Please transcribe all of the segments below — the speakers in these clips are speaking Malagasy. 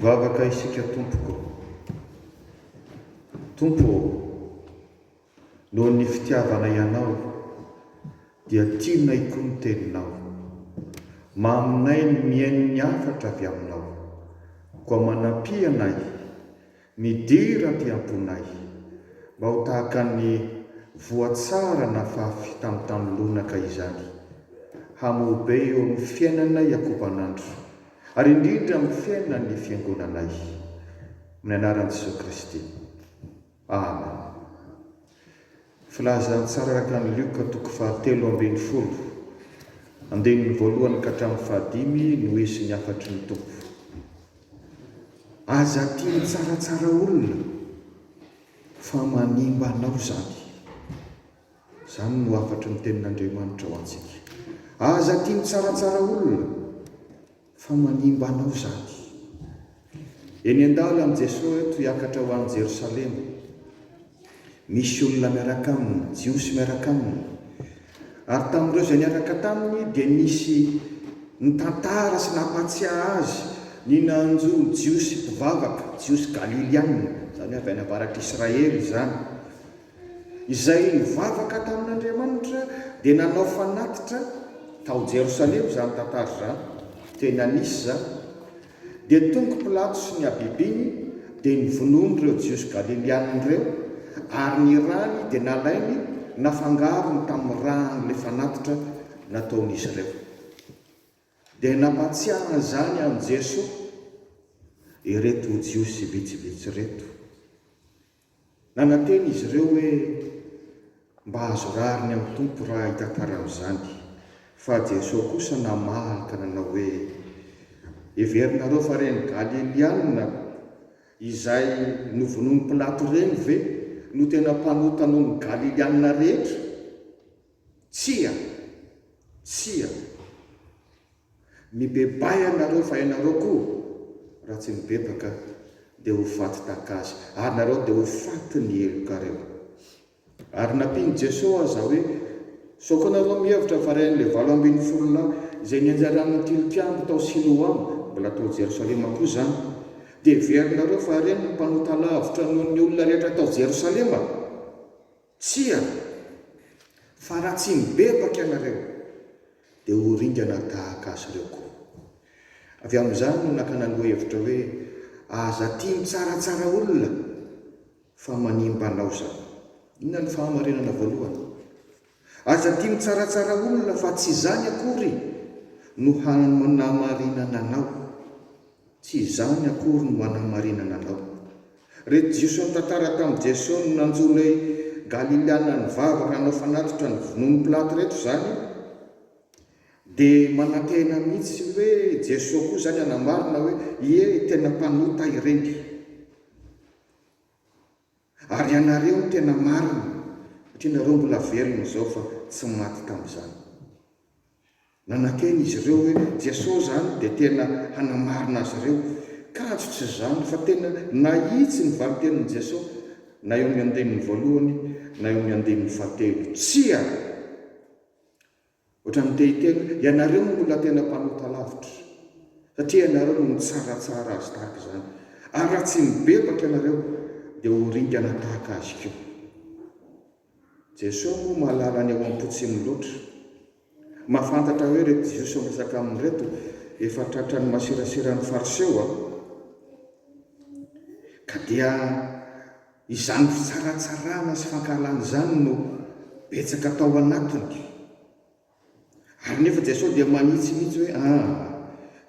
Mivavaka isika Tompoko. Tompo ô, noho ny fitiavanay Anao dia tianay koa ny Teninao. Maminay ny mihaino ny hafatra avy Aminao, koa manampianay Midera aty am-ponay. Mba ho tahaka ny voa tsara nafafy tamin'ny tany lonaka izany. Hamoa be eo amin'ny fiainanay ankoban'andro, ary indrindra amin'ny fiainan'ny Fiangonanay. Amin'ny anaran'i Jesoa Kristy. Amen. Filazantsara araka an'i Lioka toko fahatelo ambin'ny folo, andininy voalohany ka hatramin'ny fahadimy no hisy ny hafatry ny Tompo. Aza tia mitsaratsara olona fa manimba anao izany. Izany no hafatry ny tenin'Andriamanitra ho antsika. Aza tia mitsaratsara olona. Fa manimba anao izany. Eny an-dalana Jesoa eto hiakatra ho any Jerosalema. Misy olona miaraka Aminy, Jiosy miaraka Aminy. Ary tamin'ireo izay niaraka taminy dia nisy nitantara sy nampahatsiahy Azy ny nanjo Jiosy mpivavaka, Jiosy Galiliana, izany hoe avy any avaratr'Israely izany, Izay nivavaka tamin'Andriamanitra dia nanao fanatitra tao Jerosalema izany tantara izany, tena nisy izany, dia tonga Pilato sy ny habibiny dia nivonoany ireo Jiosy Galiliana ireo ary ny rany dia nalainy nafangarony tamin'ny ran'ilay fanatitra nataon'izy ireo. Dia nampahatsiahy an'izany an'i Jesoa ireto Jiosy vitsivitsy ireto. Nanantena izy ireo hoe, Mba azo rariny amin'ny Tompo raha hitantara amin'izany. Fa Jesoa kosa namaly ka nanao hoe, Heverinareo fa ireny Galilianina izay novonoin'i Pilato ireny ve no tena mpanota noho ny Galilianina rehetra? Tsia! Tsia! Mibebay ianareo fa ianareo koa raha tsy mibebaka dia ho faty tahaka azy ary nareo dia ho faty ny helokareo. Ary nampian'i Jeso aza hoe, sao koa nareo mihevitra fa ren'ilay valo ambin'ny folo lahy izay nianjaran'ny tilikambo tao Siloam, mbola tao Jerosalema koa izany, dia heverinareo fa ireny no mpanota lavitra noho ny olona rehetra tao Jerosalema? Tsia! Fa raha tsy mibebaka ianareo, dia ho ringana tahaka azy ireo koa. Avy amin'izany no nakana lohahevitra hoe, Aza tia mitsaratsara olona, fa manimba anao izany. Inona no fahamarinana voalohany? Aza tia mitsaratsara olona, fa tsy izany akory no hanamarinana anao. Tsy izany akory no hanamarinana anao. Reto Jiosy nitantara tamin'i Jeso no nanjo ilay Galiliana nivavaka nanao fanatitra ny vonoan'i Pilato reto izany dia manantena mihitsy hoe Jeso koa izany hanamarina hoe ie tena mpanota ireny ary ianareo no tena marina satria nareo mbola velona izao fa tsy maty tamin'izany. Nanantena izy ireo hoe Jesosy izany dia tena hanamarina azy ireo. Kanjo tsy izany, fa tena nahitsy ny valintenin'i Jesosy, na eo amin'ny andininy voalohany na eo amin'ny andininy fahatelo. Tsia! Ohatran'ny te hiteny hoe, Ianareo no olona tena mpanota lavitra, satria ianareo no nitsaratsara azy tahaka izany, ary raha tsy mibebaka ianareo, dia ho ringana tahaka azy koa. Jeso moa mahalala ny ao ampo tsimo loatra. Mahafantatra hoe reto jiosy miresaka aminy reto efa tratrany masirasira ny fariseo a! Ka dia izany fitsaratsarana sy fankahalana izany no betsaka tao anatiny. Ary nefa Jesosy dia manitsy mihitsy hoe, Aa!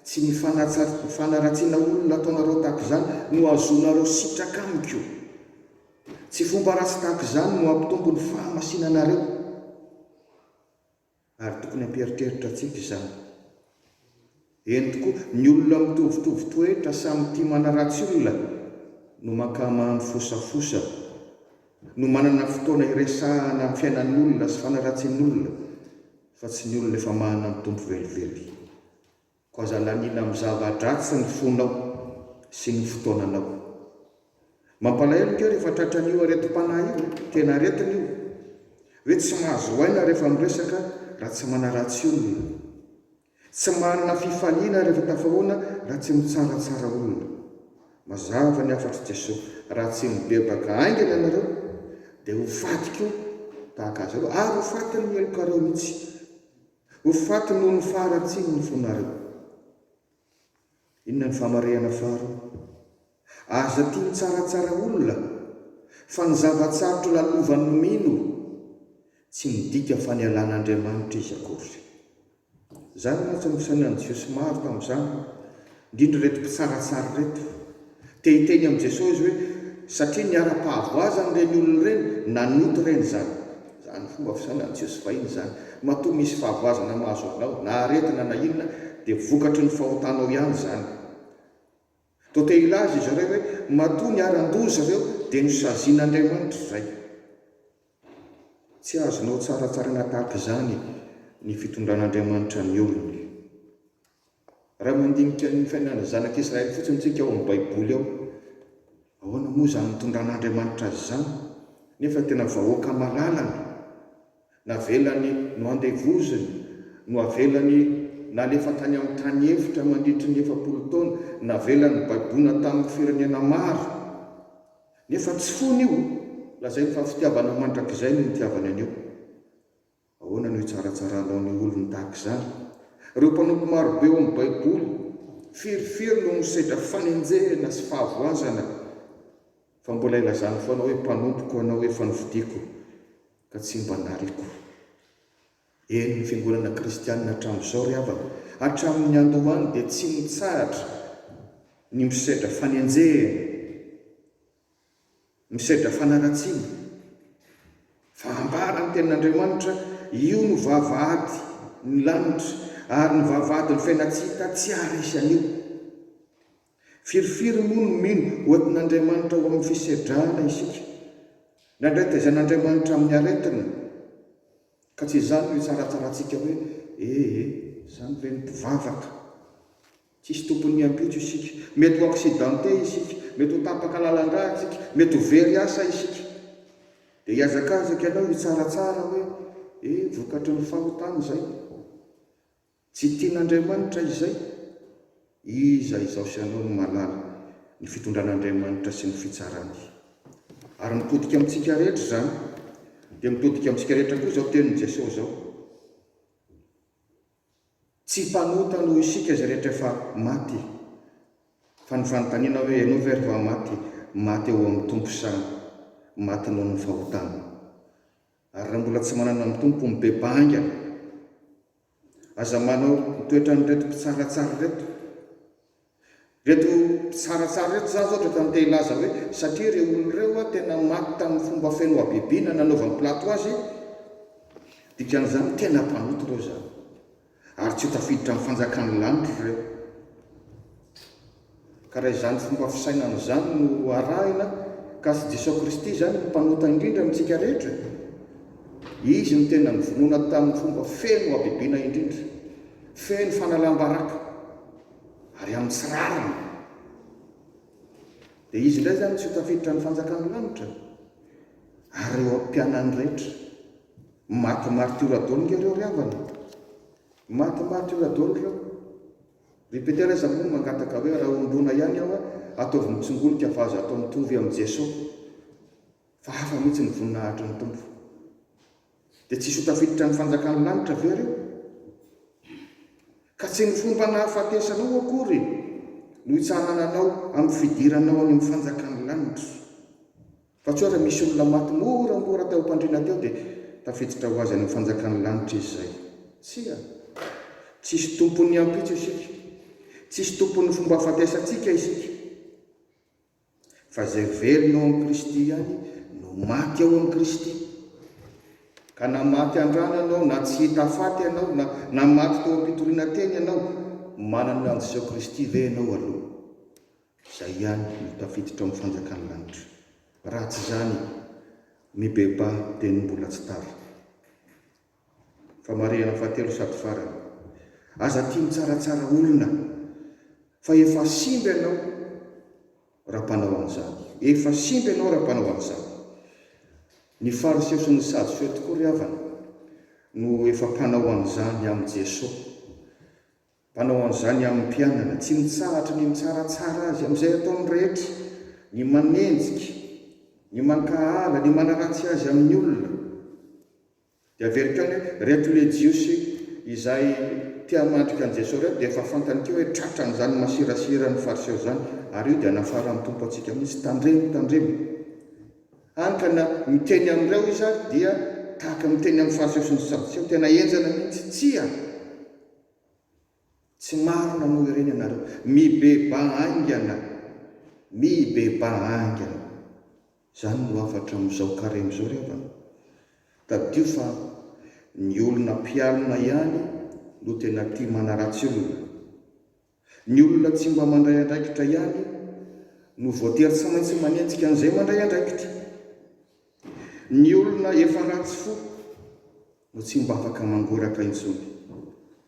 Tsy ny fanaratsiana olona nataonareo tahaka izany no ahazoanareo sitraka amiko. Tsy fomba ratsy tahaka izany no hampitombo ny fahamasinanareo. Ary tokony hampieritreritra antsika izany. Eny tokoa, ny olona mitovitovy toetra samy tia manaratsy olona no mankamamy fosafosa, no manana fotoana hiresahana amin'ny fiainan'olona sy fanaratsian'olona fa tsy ny olona efa manana ny Tompo velively. Koa aza laniana amin'ny zava-dratsy ny fonao sy ny fotoananao. Mampalahelo ange rehefa tratran'io aretim-panahy io e! Tena aretina io. Hoe tsy mahazo aina rehefa miresaka raha tsy manaratsy olona. Tsy manana fifaliana rehefa tafahoana raha tsy mitsaratsara olona. Mazava ny hafatr'i Jesoa, raha tsy mibebaka haingana ianareo, dia ho faty koa tahaka azy ireo, ary ho fatin'ny helokareo mihitsy. Ho faty noho ny faharatsian'ny fonareo. Inona ny famarihana faharoa? Aza tia mitsaratsara olona, fa ny zava-tsarotra lalovany no mino, tsy midika fa nialana Andriamanitra izy akory. Zary mantsy ny fisainan'ny Jiosy maro tamin'izany, indrindra ireto mpitsaratsara ireto. Te hiteny amin'i Jesoa izy hoe, satria niharam-pahavoazany ireny olona ireny, nanota ireny izany. Izany fomba fisainan'i Jesoa fahiny izany. Matoa misy fahavoazana mahazo anao, na aretina na inona, dia vokatry ny fahotanao ihany izany. Toa te hilaza izy ireo hoe, matoa niharan-doza ireo, dia nosazian'Andriamanitra izay. Tsy azonao tsaratsaraina tahaka izany ny fitondran'Andriamanitra ny olony. Raha mandinika ny fiainan'ny zanak'i Israely fotsiny isika ao amin'ny Baiboly ao, ahoana moa izany nitondran'Andriamanitra azy izany, nefa tena vahoaka malalany, navelany noandevozina, noavelany nalefa tany amin'ny tany efitra mandritry ny efapolo taona, navelany baibona tamin'ny firenena maro? Nefa tsy fony io! Lazainy fa fitiavana mandrakizay no nitiavany an'io. Ahoana no hitsarantsaranao ny olony tahaka izany? Ireo mpanompo maro be ao amin'ny Baiboly firy firy no misedra fanenjehana sy fahavoazana, fa mbola ilazany foana hoe, Mpanompoko ianao, efa nofidiko, ka tsy mba nariako. Eny, ny fiangonana kristianina hatramin'izao ry havana, hatramin'ny niandohany dia tsy nitsahatra ny misedra fanenjehana Misedra fanaratsiana. Fa ambara ny tenin'Andriamanitra, Io no vavahady ny lanitra, ary ny vavahady ny fiainantsika tsy haharesy an'io. Firifiry moa no mino ho entin'Andriamanitra ao amin'ny fisedrana isika? Nandray taizan'Andriamanitra amin'ny aretina. Ka tsy izany no hitsaratsarantsika hoe, Ee, izany ve ny mpivavaka? Tsisy tompon'ny ampitso isika. Mety ho accidenté isika. Mety ho tapaka lalandrà isika. Mety ho very asa isika. Dia hihazakazaka ianao hitsaratsara hoe, E, vokatry ny fahotana izay. Tsy tian'Andriamanitra izay. Iza izaho sy ianao no mahalala ny fitondran'Andriamanitra sy ny fitsarany. Ary mitodika amintsika rehetra izany. Dia mitodika amintsika rehetra koa izao tenin'i Jesoa izao. Tsy mpanota noho isika izay rehetra efa maty. Fa ny fanontaniana hoe, ianao ve ry va maty? Maty eo amin'ny Tompo sa maty noho ny fahotana? Ary raha mbola tsy manana ny Tompo, mibebaha haingana. Aza manao ny toetran'ireto mpitsaratsara ireto. Ireto mpitsaratsara ireto, izaho izao otrany te hilaza hoe satria ireo olona ireo tena maty tamin'ny fomba feno habibiana nanaovan'i Pilato azy, dikan'izany tena mpanota ireo izany, ary tsy ho tafiditra amin'ny fanjakan'ny lanitra ireo. Ka raha izany fomba fisainana izany no arahina, ka tsy Jesosy Kristy izany no mpanota indrindra amintsika rehetra, Izy no tena nivonona tamin'ny fomba feno habibiana indrindra, feno fanalam-baraka, ary amin'ny tsy rariny. Dia izy indray izany tsy ho tafiditra ny fanjakan'ny lanitra, ary ireo mpianany rehetra. Maty martiora daholo nga ireo ry havana. Maty martiora daholo ireo. Ry Petera aza moa mangataka hoe raha hombona ihany aho, ataovy mitsingolika fa aza atao mitovy amin'i Jeso. Fa hafa mihitsy ny voninahitry ny Tompo. Dia tsy hisy ho tafiditra amin'ny fanjakan'ny lanitra ve ireo? Ka tsy ny fomba nahafatesanao akory no hitsahana anao amin'ny fidiranao any amin'ny fanjakan'ny lanitra. Fa tsy hoe raha misy olona maty moramora tao am-pandriana teo dia tafiditra ho azy any amin'ny fanjakan'ny lanitra izy izay. Tsia. Tsy hisy tompon'ny ampitso isika. Tsy hisy tompon'ny fomba hafatesantsika isika. fa izay velona ao amin'i Kristy ihany no maty ao amin'i Kristy. Ka na maty an-drano ianao, na tsy hita faty ianao, na, na maty teo am-pitoriana teny ianao, manana ny handiseho Kristy ve ianao aloha? Izay ihany no tafiditra ao amin'ny fanjakan'ny lanitra. Raha tsy izany, mibebaha dia ny mbola tsy tara. Famarihana fahatelo sady farany. Aza tia mitsaratsara olona fa efa simba ianao raha mpanao an'izany. Efa simba ianao raha mpanao an'izany. Ny Fariseo sy ny Sadoseo tokoa ry havana no efa mpanao an'izany amin'i Jeso. Mpanao an'izany amin'ny mpianany. Tsy mitsahatra ny mitsaratsara azy amin'izay ataony rehetra, ny manenjika, ny mankahala, ny manaratsy azy amin'ny olona. Dia averiko any hoe reto le jiosy izay te hamandrika an'i Jesoa reto dia efa fantany keo hoe tratran'izany masirasira an'ny fariseo izany ary io dia nafaran'ny Tompo antsika mihitsy, tandremo, tandremo. Hany ka na miteny amin'ireo izy ary dia tahaka miteny amin'ny fariseo sy ny sadoseo, tena henjana mihitsy, tsia! Tsy marina moa ireny ianareo. Mibebà haingana. Mibebà haingana. Izany no hafatra amin'izao karemy izao ry havana. Tadidio fa ny olona mpialona ihany no tena tia manaratsy olona. Ny olona tsy mba mandray andraikitra ihany no voatery tsy maintsy manenjika an'izay mandray andraikitra. Ny olona efa ratsy fo no tsy mba afaka mangoraka intsony.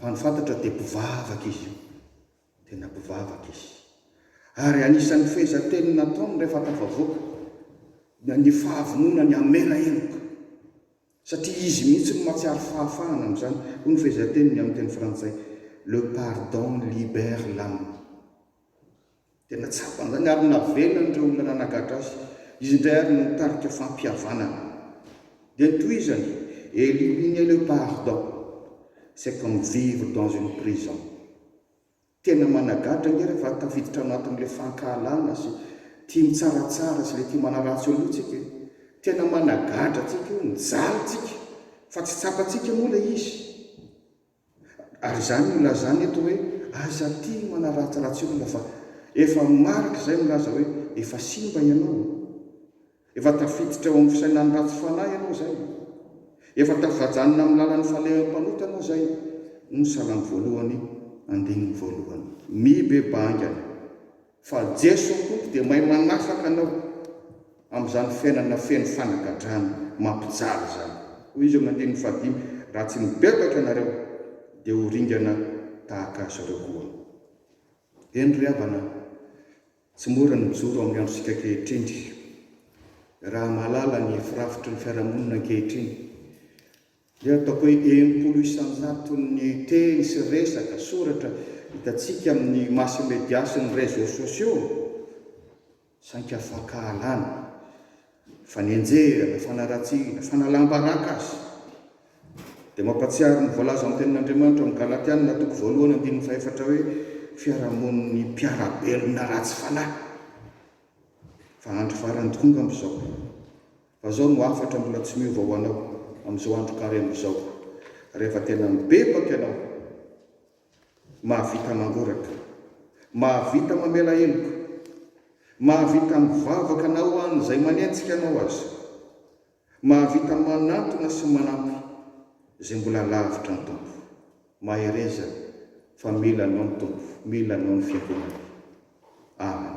Fa ny fantatra dia mpivavaka izy io, tena mpivavaka izy. Ary anisan'ny fehezanteny nataony rehefa tafavoaka ny fahavononany hamela heloka, satria izy mihitsy no mahatsiaro fahafahana amin'izany, hoy ny fehezanteniny amin'ny teny frantsay, Le pardon libère l'âme. Tena tsapany izany ary navelan'ireo olona nanagadra azy. Izy indray ary no nitarika fampihavanana. Dia notohizany, Éliminez le pardon, c'est comme vivre dans une prison. Tena managadra ange rehefa tafiditra anatin'ilay fankahalana sy tia mitsaratsara sy ilay tia manaratsy olona io tsika e! Tena managadra antsika io, mijaly tsika fa tsy tsapantsika moa ilay izy. Ary izany no ilazana eto hoe aza tia ny manaratsiratsy olona fa efa marika izay milaza hoe efa simba ianao, efa tafiditra eo amin'ny fisainan'ny ratsy fanahy ianao izay, efa tafajanona amin'ny lalan'ny falehampanota ianao izay hoy ny salamo voalohany andininy voalohany. Mibebaha haingana Fa Jeso Tompo dia mahay manafaka anao amin'izany fiainana feno fanagadrana mampijaly izany. Hoy Izy eo amin'ny andininy fahadimy, Raha tsy mibebaka ianareo, dia ho ringana tahaka azy ireo koa. Eny ry havana, tsy mora ny mijoro amin'ny androntsika ankehitriny. Raha mahalala ny firafitry ny fiarahamonina ankehitriny, Dia ataoko hoe enimpolo isan-jato ny teny sy resaka, soratra, hitantsika amin'ny mass media sy ny réseaux sociaux, saingy fankahalana, fanenjehana, fanaratsiana, fanalam-baraka aza. Dia mampahatsiaro ny voalazan'ny Tenin'Andriamanitra ao amin'ny Galatiana toko voalohany andininy fahefatra hoe, fiarahamonin'ny mpiara-belona ratsy fanahy. Fa andro farany tokoa angamba izao. Fa izao no hafatra mbola tsy miova ho anao amin'izao andro karemy izao, rehefa tena mibebaka ianao, mahavita mangoraka, mahavita mamela heloka, mahavita mivavaka na ho an'izay manenjika anao aza, mahavita manantona sy manampy izay mbola lavitra ny Tompo. Mahereza fa mila anao ny Tompo, mila anao ny Fiangonany. Amen.